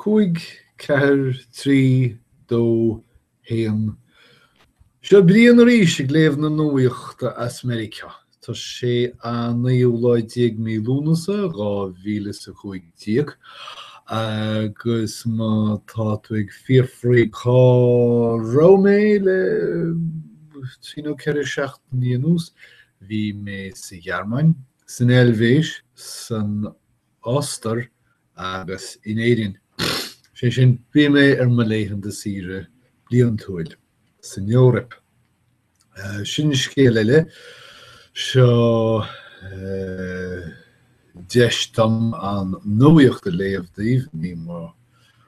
5, 4, 3, 2, 1 Seo Brian arís ag léamh na nuaíochta as Meiriceá. Tá sé an naoú lá déag mí Lúnasa, dhá mhíle a cúig déag. Agus má tá tú ag fiafraí cá raibh mé le trí nó ceithre seachtainí anuas, bhí mé sa Ghearmáin, san Eilvéis, san Ostair agus in Éirinn. Sé sin, bhí mé ar mo laethanta saoire bliantúil san Eoraip. Sin scéal eile, seo deis dom an nuaíocht a léamh daoibh, ní mar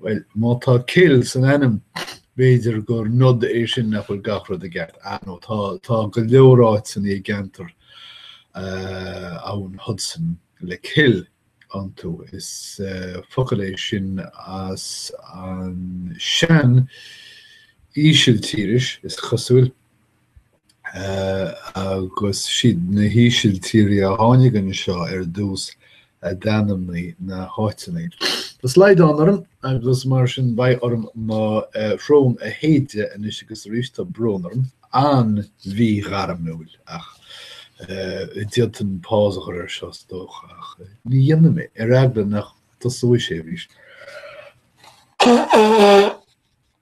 Bhuel, má tá cill san ainm, b'fhéidir gur nod é sin nach bhfuil gach rud i gceart. Ah no, tá, tá go leor áiteanna i gceantar uh, abhann Hudson le cill iontu. Is uh, focal é sin as an sean-Ísiltíris is cosúil. agus is iad na hÍsiltírí a tháinig anseo ar dtús a d'ainmnigh na háiteanna. Tá slaghdán orm agus mar sin beidh orm mo shrón a shéideadh anois agus arís tá brón orm an-mhíghairmiúil ach d'fhéadfainn pause a chur ar seo is dócha ach ní dhéanfaidh mé ar eagla nach dtosóidh sé arís.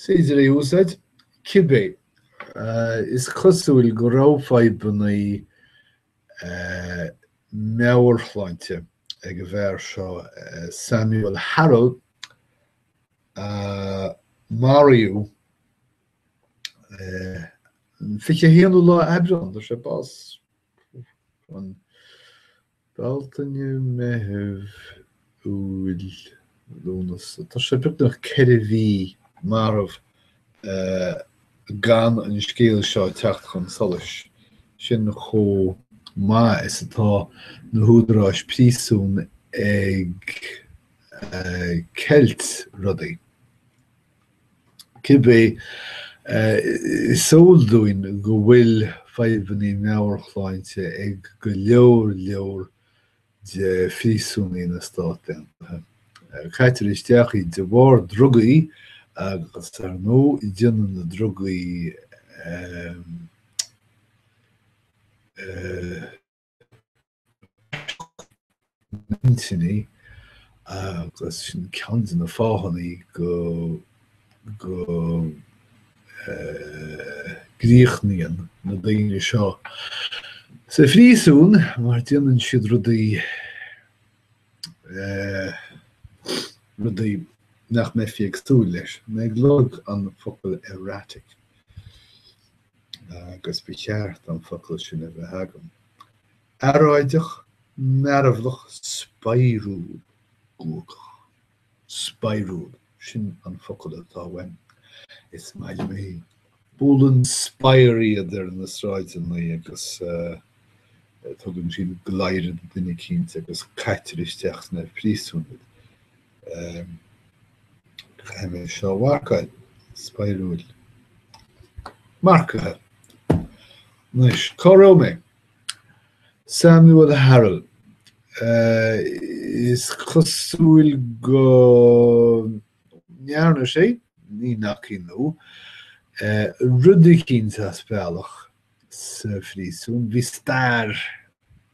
is féidir é a úsáid, cibé. Is cosúil go raibh fadhbanna meabhairshláinte ag an bhfear seo, Samuel Harrell, a maraíodh an 21ú lá Aibreán. Fuair sé bás an. Bealtaine, Meitheamh, Iúil, Lúnasa, tá sé beagnach ceithre mhí marbh gan an scéal seo teacht chun solais, sin chomh maith is atá na húdaráis príosún ag ceilt rudaí. Cibé, is eol dúinn go bhfuil fadhbanna meabhairshláinte ag go leor leor de phríosúnaigh na Stát Aontaithe. Caitear isteach iad de bharr drugaí agus ar ndóigh déanann na drugaí a. na hintinní agus sin ceann de na fáthanna go go gcríochnaíonn na daoine seo sa phríosún mar déanann siad rudaí rudaí nach mbeifí ag súil leis mé ag lorg an focal erratic. agus ba cheart an focal sin a bheith agam, earráideach, mearbhlach, spadhrúil, guagach. Spadhrúil, sin an focal atá uaim, is maith liom é. Buaileann spadhar iad ar na sráideanna agus tugann siad gleadhradh do dhuine eicínt agus caitear isteach sna príosúin iad. Caithfidh mé seo a mharcáil. Spadhrúil. Marcaithe. Anois, cá raibh mé? Samuel Harrell. Is cosúil go ndearna sé, ní nací nó, rud eicínt as bealach sa phríosún. Bhí stair.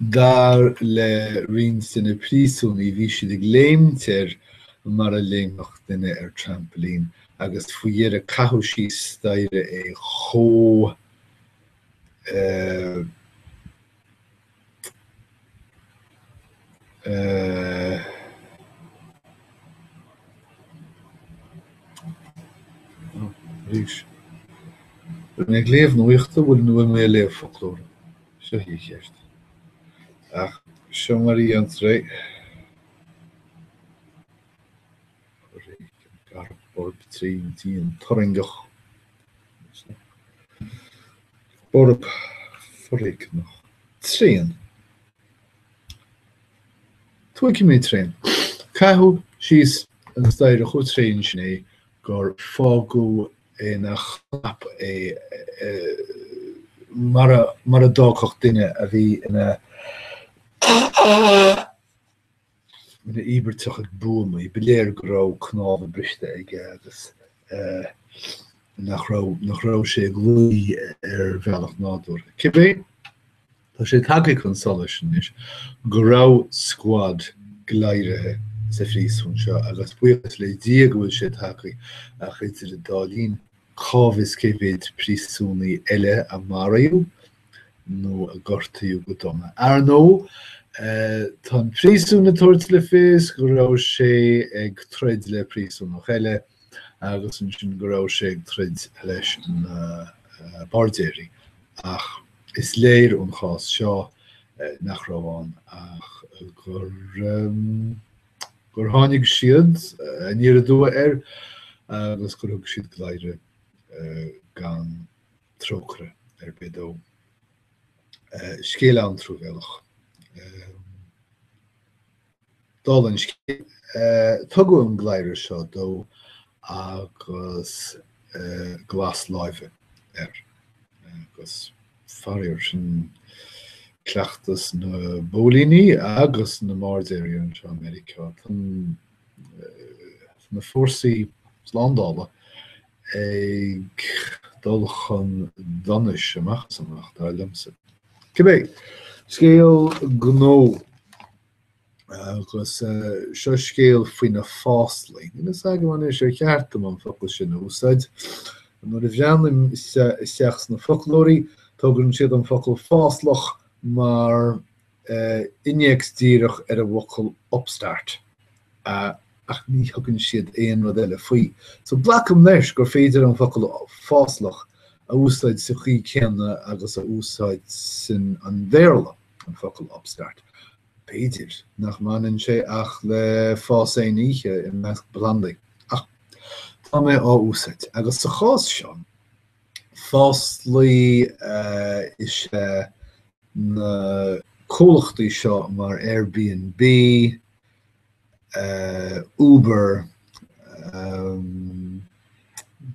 Dar le roinnt de na príosúnaigh, bhí siad ag léimt air mar a léimfeadh duine ar trampoline agus faoi dheireadh caitheadh síos staighre é chomh Arís, bheinn ag léamh nuachta, bhuel nó bheadh mé ag léamh foclóra, seo í an cheist. Ach seo mar a dhéantar é. Foréigean garbh borb tréan dian turraingeach. Borb, foréigneach, tréan. Tógfaidh mé tréan. Caitheadh síos an staighre chomh tréan sin é gur fágadh ina chnap é mar a d'fhágfadh duine a bhí ina. ina íobartach ag buamaí, ba léir go raibh cnámha briste aige agus nach raibh nach raibh sé ag luí ar bhealach nádúrtha. Cibé, Tá sé tagtha chun solais anois go raibh scuad gleadhartha sa phríosún seo agus buíochas le Dia go bhfuil sé tagtha ach idir an dá linn cá bhfios cé mhéid príosúnaí eile a maraíodh nó a gortaíodh go dona. Ar ndóigh, tá an príosún ag tabhairt le fios go raibh sé ag troid le príosúnach eile agus ansin go raibh sé ag troid leis na bairdéirí ach is léir ón chás seo nach raibh ann ach gur gur tháinig siad aniar aduaidh air agus gur thug siad gleadhradh gan trócaire ar bith dó. Scéal an-truamhéalach. Dála an scéil, tugadh an gleadhradh seo dó agus glas láimhe air agus. Faraor sin cleachtas na bpóilíní agus na mbairdéirí anseo i Meiriceá, tá na fórsaí slándála ag dul chun donais amach is amach, dar liomsa. Cibé, scéal gnó. Agus seo scéal faoi na fáslaí. Níl fhios agam an é sin ceart dom an focal sin a úsáid. Nuair a bhreathnaím isteach sna foclóirí, tugann siad an focal fáslach mar innéacs díreach ar an bhfocal upstart ach ní thugann siad aon rud eile faoi. So glacaim leis gur féidir an focal fáslach a úsáid sa chaoi céanna agus a úsáideann an Béarla an focal upstart. B'fhéidir nach mbaineann sé ach le fás aon oíche i measc plandaí, ach tá mé á úsáid, agus sa chás seo, fáslaí is ea na comhlachtaí seo mar Airbnb, Uber,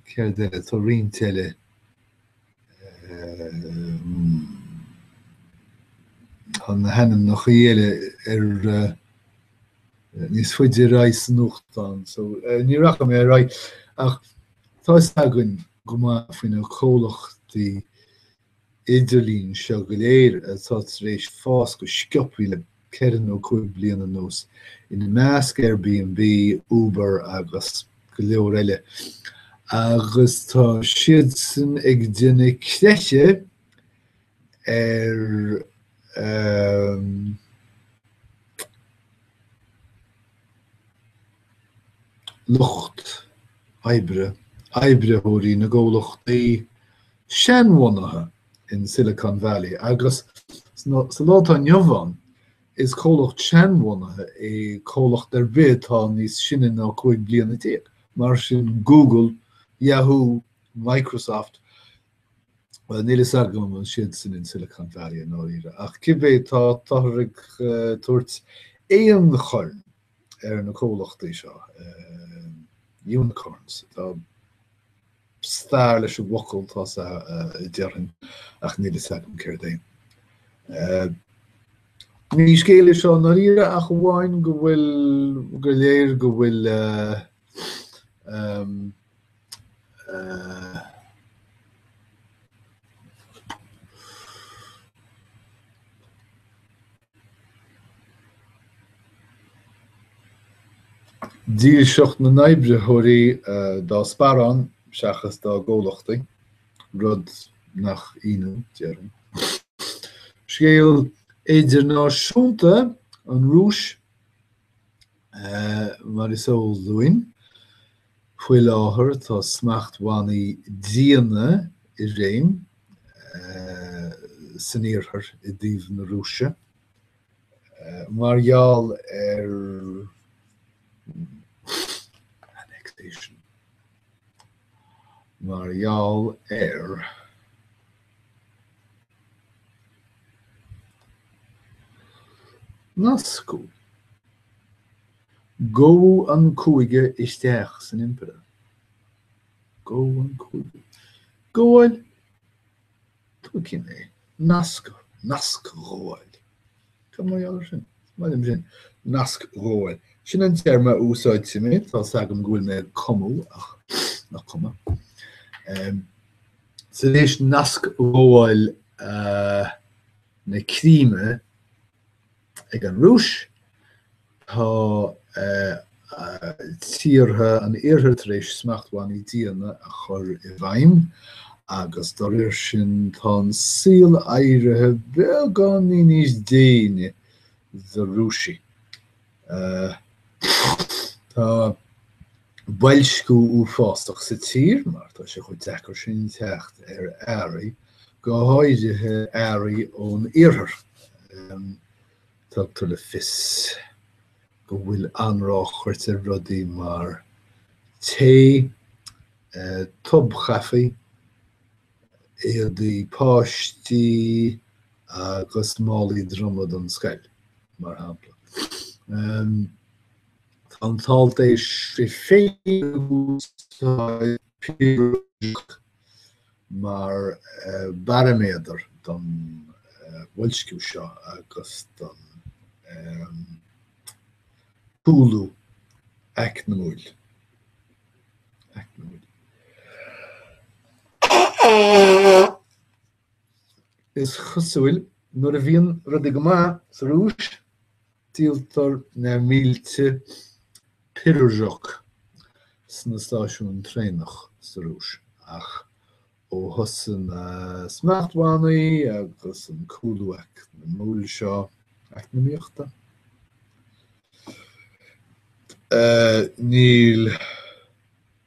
céard eile, tá roinnt eile. Tá na hainmneachaí eile ar níos faide ar aghaidh san nuachtán so ní rachaidh mé ar aghaidh ach tá fhios againn go maith faoi na comhlachtaí idirlín seo go léir atá tar éis fás go sciobtha le ceithre nó cúig bliana anuas, ina measc Airbnb, Uber agus go leor eile, agus tá siadsan ag déanamh creiche ar lucht oibre, oibritheoirí na gcomhlachtaí seanbhunaithe. in Silicon Valley agus sa lá atá inniu ann, is comhlacht seanbhunaithe é comhlacht ar bith atá níos sine ná 15 bliana, mar sin Google, Yahoo, Microsoft, bhuel níl fhios agam an siad sin in Silicon Valley i ndáiríre ach cibé, tá, táthar ag tabhairt aonchorn ar na comhlachtaí seo, unicorns, tá stair leis an bhfocal tá sa déarfainn ach níl fhios agam céard é féin. Ní scéal é seo ndáiríre ach amháin go bhfuil, go léir go bhfuil dílseacht na n-oibritheoirí dá sparán seachas dá gcomhlachtaí, rud nach ionadh, déarfainn. Scéal idirnáisiúnta an Rúis Mar is eol dúinn, faoi láthair tá smachtbhannaí diana i réim san Iarthar i dtaobh na Rúise mar gheall ar annexation, mar gheall ar. Nascadh. Go an cúige isteach san impireacht. Go an cúige. Gabháil. Tuigim é. Nascadh. Nascghabháil. Tá mé ann sin. Tá mé ann sin. Nasc dhóigh. Sin an téarma a úsáidfidh mé. Tá fhios agam go bhfuil mé ag cumadh ach ná cuma. Sa réimhs nasc dhóigh na Críme ag an Rúis, Tá tíortha an Iarthair tar éis smachtbhannaí diana a chur i bhfeidhm agus dá réir sin tá an saol éirithe beagáinín níos déine do Rúisigh. Tá boilsciú uafásach sa tír mar tá sé chomh deacair sin teacht ar earraí, go háirithe earraí ón Iarthar. Tugtar le fios go bhfuil an-ráchairt ar rudaí mar tae, tobchaife, éadaí páistí agus málaí droma don scoil, mar shampla. Tá an t-alt é féin ag úsáid píosa raidió. mar bharaiméadar don bhoilsciú seo agus don chúlú acmhainniúil. Is cosúil nuair a bhíonn rudaí go maith sa Rúis, Díoltar na mílte pirozhki sna stáisiúin traenach sa Rúis ach ó thosaigh na smachtbhannaí agus an cúlú eacnamúil seo, eacnamaíochta? níl.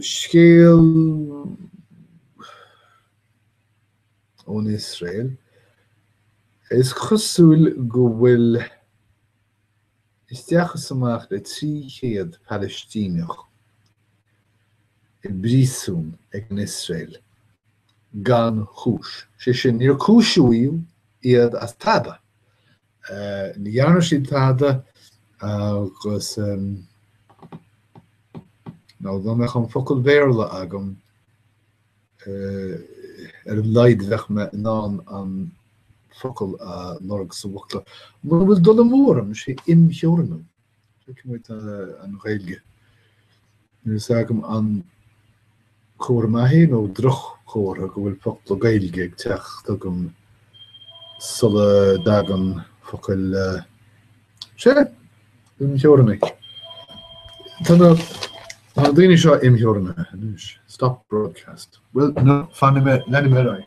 scéal ón Iosrael, is cosúil go bhfuil isteach is amach le 300 Palaistíneach i bpríosún ag an Iosrael gan chúis, sé sin níor cúisíodh iad as tada Ní dhearna siad tada agus ná dá mbeadh an focal Béarla agam ar a laghad bheadh mé in ann an focal a lorg sa bhfoclóir. Mura bhfuil dul amú orm, sé imtheorannú. An Ghaeilge. Níl a fhios agam an comhartha maith é nó droch-chomhartha go bhfuil focla Gaeilge ag teacht agam sula dtagann focail Sé imtheorannú. Tá na daoine seo imtheorannaithe. Stop broadcast. Bhuel, no, fanfaidh mé, leanfaidh mé ar aghaidh.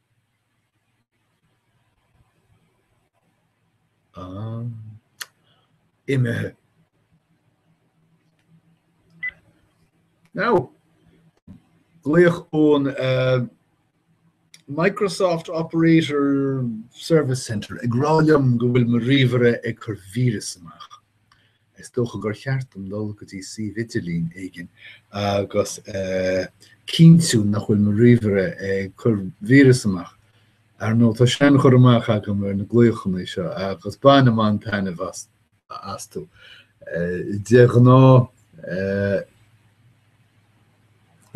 imithe. Now, glaoch ón uh, Microsoft Operator Service Center ag rá liom go bhfuil mo ríomhaire ag cur víreas amach. Is dócha gur cheart dom dul go dtí suíomh idirlín éigin agus cinntiú nach bhfuil mo ríomhaire ag cur víreas amach. Ar ndóigh, tá seanchur amach agam ar na glaochanna seo agus bainim an-taitneamh astu. De ghnáth,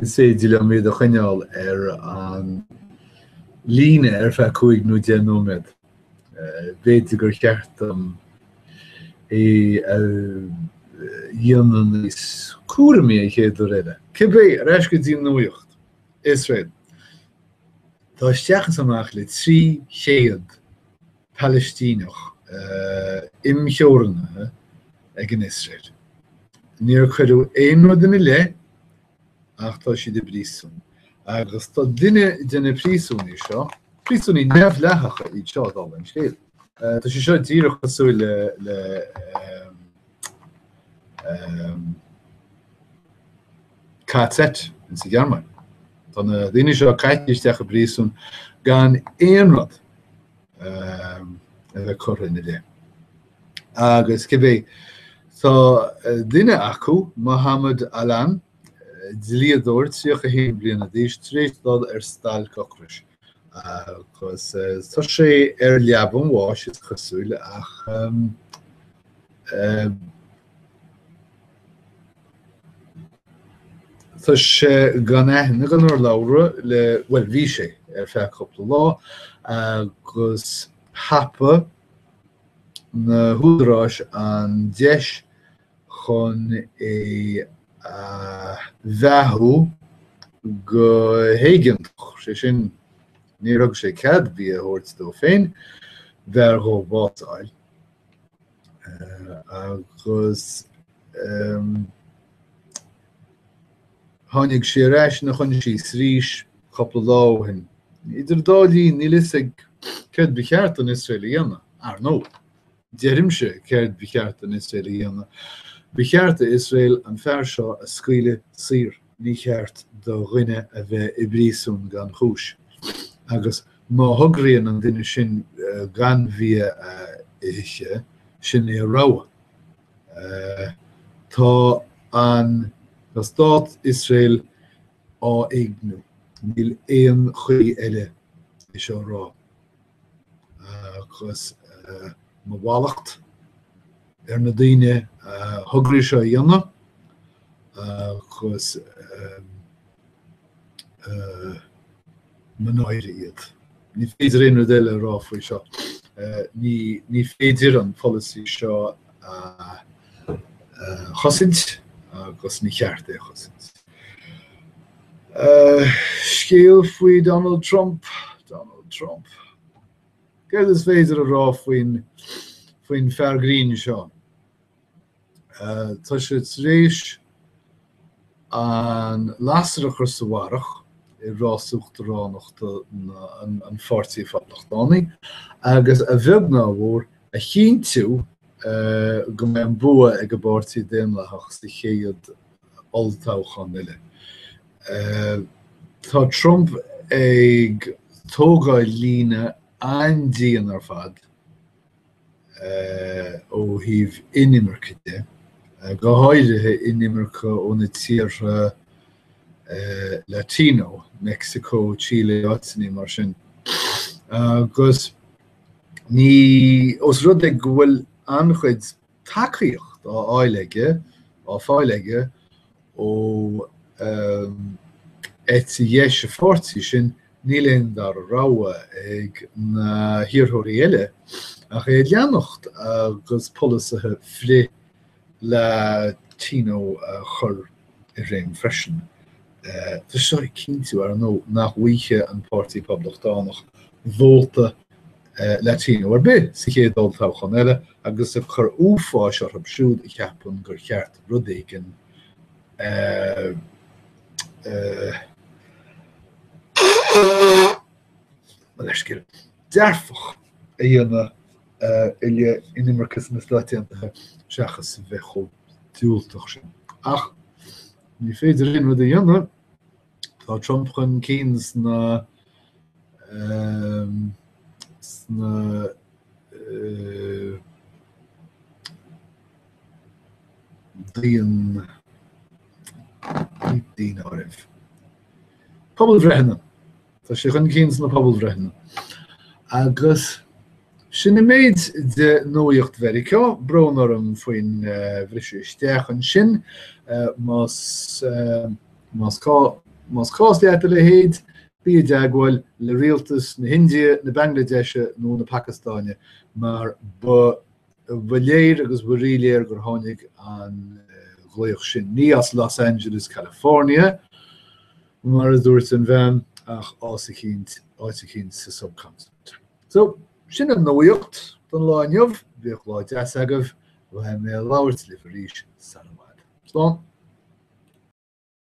Is féidir liom iad a choinneáil ar an líne ar feadh cúig nó deich nóiméad. B'fhéidir gur cheart dom é a dhéanamh níos cúramaí an chéad uair eile. Cibé ar ais go dtí nuaíocht, Iosrael, tá isteach is amach le trí chéad Palaistíneach imtheorannaithe ag Iosrael. Níor cuireadh aon rud ina leith ach tá siad i bpríosún. Agus tá duine de na príosúnaigh seo, príosúnaigh neamhdhleathacha iad seo dála an scéil, tá sé seo díreach cosúil le KZ insa Ghearmáin. Tá na daoine seo caite isteach i bpríosún gan aon rud a bheith curtha ina leith. Agus cibé tá duine acu, Mohammed Allan, dlíodóir 31 bliana d'aois tar éis dul ar stailc ocrais agus tá sé ar leaba an bháis is cosúil ach Tá sé gan aithne gan urlabhra le, bhuel bhí sé ar feadh cúpla lá agus thapaigh na húdaráis an deis chun é a bheathú go héigeantach, sé sin níor thug sé cead bia a thabhairt dó féin b'fhearr dhó bás a fháil agus, Tháinig sé ar ais ina choinsias arís cúpla lá ó shin. Idir an dá linn, níl a fhios acu céard ba cheart don Iosrael a dhéanamh, ar ndóigh. Deirimse céard ba cheart don Iosrael a dhéanamh. Ba cheart d'Iosrael an fear seo a scaoileadh saor. Ní cheart do dhuine a bheith i bpríosún gan chúis. Agus má thograíonn an duine sin gan bia a ithe, sin é a rogha. Tá Stát Iosrael á éigniú, níl aon chaoi eile é seo a rá, agus mo mhallacht ar na daoine a thograigh seo a dhéanamh agus mo náire iad. Ní féidir aon rud eile a rá faoi seo. Ní féidir an polasaí seo a chosaint agus ní cheart é a chosaint. Scéal faoi Donald Trump Donald Trump Céard is féidir a rá faoin fear grinn seo? Tá sé tar éis an lasair a chur sa bharrach i rás uachtaránachta an Pháirtí Phoblachtánaigh agus, a bheag nó a mhór, a chinntiú go mbeidh an bua ag an bPáirtí Daonlathach sa chéad olltoghchán eile. Tá Trump ag tógáil líne an-dian ar fad ó thaobh inimirce de, go háirithe inimirce ó na tíortha Latino, Meicsiceo, Chile, áiteanna mar sin, agus ní, os rud é go bhfuil an-chuid tacaíocht á fháil aige, á fáil aige ó eite dheis a pháirtí sin, Níl aon dara rogha ag na hiarrthóirí eile ach é a leanacht agus polasaithe frith-Latino a chur i réim freisin. Tá seo ag cinntiú, ar ndóigh, nach bhfaighidh an Páirtí Poblachtánach vóta Latino ar bith sa chéad olltoghchán eile agus ag cur uafáis orthu siúd a cheapann gur cheart rud éigin a leithscéal dearfach a dhéanamh i leith inimirce sna Stáit Aontaithe seachas a bheith chomh diúltach sin. Ach ní féidir aon rud a dhéanamh, tá Trump chun cinn sna sna daon daonáireamh. Pobalbhreitheanna Tá sé chun cinn sna pobalbhreitheanna agus sin an méid de nuaíocht Mheiriceá, brón orm faoin bhriseadh isteach ansin más cás leat a leithéid, bí i dteagmháil le rialtas na hIndia, na Banglaidéise nó na Pacastáine mar Ba léir agus ba ríléir gur tháinig an glaoch sin, ní as Los Angeles California, mar a dúirt an bhean, ach ás eicínt, áit eicínt sa subcontinent. So, sin an nuaíocht don lá inniu, bíodh lá deas agaibh, beidh mé ag labhairt libh arís sara bhfad. Slán!